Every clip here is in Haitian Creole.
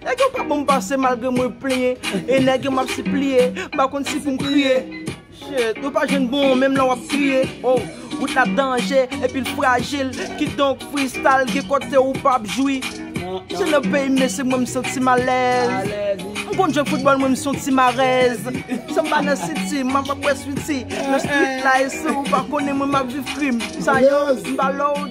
Nèg yo pa bonm pase malgre mwen plenyen E nèg yo map sipliye M pa konn si poum kriye Shit Yo pa jwenn bon menm lè wap kriye Oh Wout la danje epi l frajil Kidonk freestyle gen kote ou pap jwi Se nan peyi m men se mwen m santi m alèz M konn jwe foutbòl mwen m son ti marèz San m pa nan city m ap ap bwè sweety Nan street la e si w pa konnen mwen m ap viv krim Sa yo m pa lò w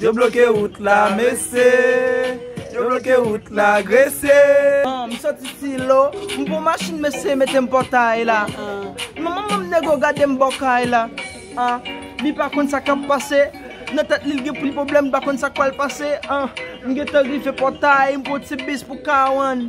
Yo bloke wout la mesye. Yo bloke wout la gresye. M soti silo, m pran machin mesye mete m pòtay la Manman m nego gade m bò kay la Li pa konn sa k ap pase Nan tèt li l gen pil pwoblèm li pa konn sa k pral pase M gentan rive pòtay, m pran ti bis pou K1